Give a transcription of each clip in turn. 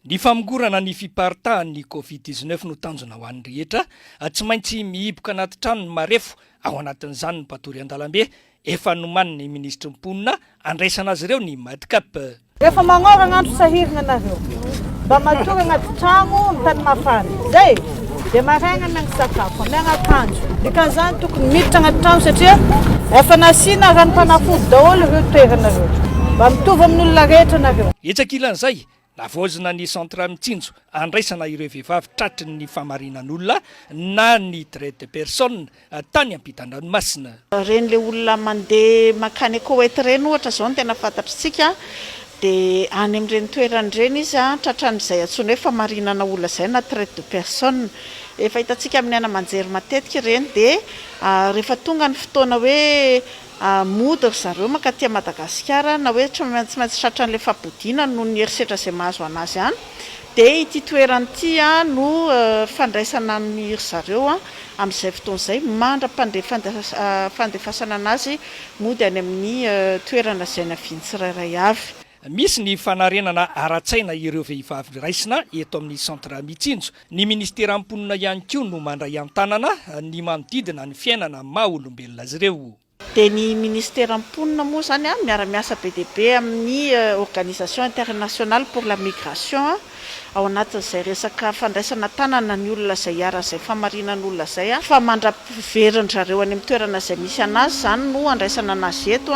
Ny famongorana ny fiparitahan' ny Covid dix neuf no tanjona ho an'ny rehetra, tsy maintsy mihiboka anaty trano ny marefo, ao anatin'izany ny mpatory an-dalambe, efa nomanin'ny minisitry ny Mponina handraisana azy ireo ny Madcap. Efa magnoragna andro sahiragna nareo mba matory agnaty tragno am tany mafana zay. Dia maraina no misakafo, mianakandro. Dikan'izany tokony miditra anaty trano satria efa nasiana ranom-panafody daholo ireo toerana ireo. Mba mitovy amin'olona rehetra nareo. Etsy ankilan'izay, navaozina ny Centre Mitsinjo andraisana ireo vehivavy tratry ny famarinan'olona na ny Traite de personnes tany ampitan-dranomasina. Ireny le olona mandeha mankany a Koweït ireny ohatra izao no tena fantatr'tsika dia any amin'ireny toerana ireny izy tratran'izay antsoina hoe famarinana olona izay na traite de personne. Efa hitantsika amin'ny haina aman-jery matetika ireny dia rehefa tonga ny fotoana hoe Mody ry zareo mankaty à Madagasikara na hoe tsy maintsy tratra an'ilay fabodiana noho ny herisetra izay mahazo an'azy any dia ity toerana ity no fandraisana an'i ry zareo amin'izay fotoana izay mandra-pandefasana an'azy mody any amin'ny toerana izay naviany tsirairay avy. Misy ny fanarenana ara-tsaina ireo vehivavy raisina eto amin'ny Centre Mitsinjo. Ny Ministeran'ny Mponina ihany koa no mandray an-tanana ny manodidina ny fiainana maha olombelona azy ireo. Dia ny Ministeran'ny Mponina moa izany miara-miasa be dia be amin'ny Organisation Internationale pour la Migration ao anatin'izay resaka fandraisana an-tanana ny olona izay iharan'izay famarinan'olona izay fa mandra-piverin-dry zareo any amin'ny toerana izay misy an'azy izany no andraisana an'azy eto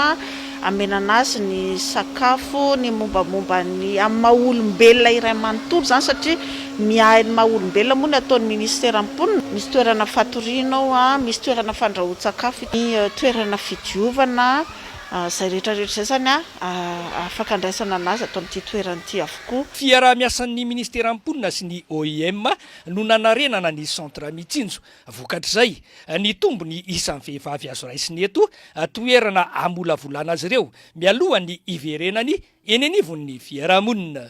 Amenana azy ny sakafo, ny mombamomba ny amin'ny maha olombelona iray manontolo izany satria miahy ny maha olombelona moa ny ataon'ny minisiteran'ny mponina. Misy toerana fatoriana ao, misy toerana fandrahoan-tsakafo, ny toerana fidiovana, izay rehetrarehetra izay izany afaka andraisana an'azy ato amin'ity toerana ity avokoa. Fiaraha-miasan'ny minisiteran'ny mponina sy ny OIM no nanarenana ny centre Mitsinjo. Vokatr'izay, nitombo ny isan'ny vehivavy azo raisina eto an-toerana hamolavolana azy ireo mialohan'ny hiverenany eny anivon'ny fiarahamonina.